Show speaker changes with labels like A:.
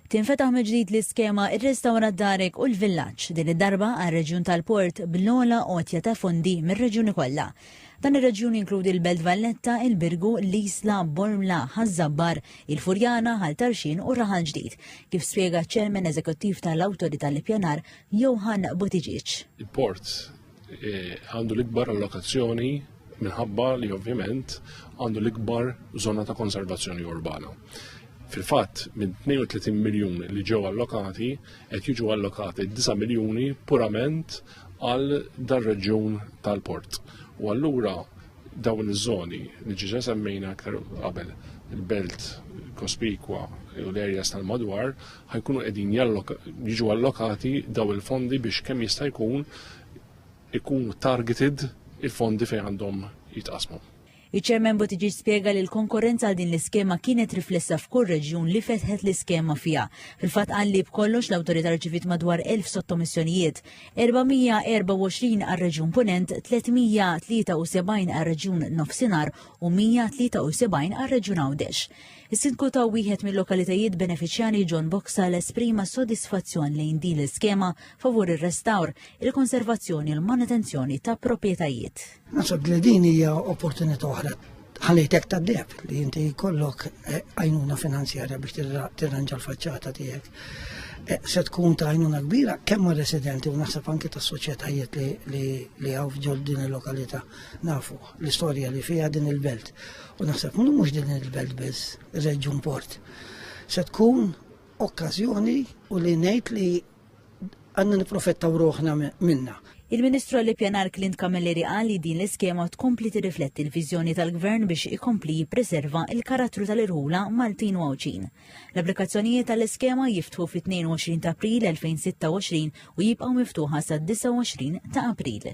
A: Tinfetaħ mill-ġdid l-iskema Irrestawra Darek u l-Villaġġ, din id-darba għar-reġjun tal-Port bl-ogħla għotja ta' fondi mir-reġjuni kollha. Dan ir-reġjun jinkludi l-Belt Valletta, il-Birgu, l-Isla, Bormla, Ħaż-Żabbar, il-Furjana, Ħal Tarxien u Raħal Ġdid, kif spjega ċ-Chairman Eżekuttiv tal-Awtorità l-Ippjanar, Johann Buttigieg. Il-Port
B: E, għandu l-ikbar allokazzjoni minħabba li ovvjament għandu l-ikbar zona ta' konservazzjoni urbana. Fil-fatt, minn 32 miljun li ġew allokati, qed jiġu allokati 9 miljuni purament għal dar-reġjun tal-port. U allura dawn iż-żoni li ġiġa semmejna aktar qabel il-belt kospikwa u l-erjas tal-madwar ħajkunu qegħdin jiġu allokati daw il-fondi biex kemm jista' jkun ikunu targeted il-fondi fejn għandhom jitqasmu. Iċ-Chairman
A: Buttigieg spjega li l-konkorrenza għal din l-iskema kienet riflessa f'kull reġjun li fetħet l-iskema fiha. Fil-fatt qal li b'kollox l-Awtorità rċiviet madwar 1000 sottomissjonijiet, 424 għar-Reġjun Punent, 373 għar-Reġjun Nofsinhar u 173 għar-Reġjun Għawdex. Is-Sindku ta' wieħed mil-lokalitajiet benefiċjarji John Boxall esprima s-sodisfazzjon lejn din l-iskema favur ir-restawr, il-konservazzjoni u l-manutenzjoni ta' proprjetajiet. Naħseb li din
C: hija opportunità oħra ħalejtek ta' deb li inti jkollok eh, għajnuna finanzjarja biex tirranġa l-faċċata tiegħek. Eh, se tkun ta' għajnuna kbira kemm residenti u naħseb anke tas soċjetajiet li għaw ġol din il-lokalità nafu. L-istorja li fiha din il-belt. U naħseb mhux din il-belt biss, ir-reġjun port. Se tkun okkażjoni u li ngħid li għandna niprofettaw ruħna minna. Il-Ministru għall-Ippjanar
A: Clint Camilleri qal li din l-iskema tkompli tirrifletti l-viżjoni tal-Gvern biex ikompli jippreserva il-karattru tal-irħula Maltin u Għawdxin. L-applikazzjonijiet tal-iskema jiftħu fit-22 ta' April 2026 u jibqgħu miftuħa sa' 29 ta' April.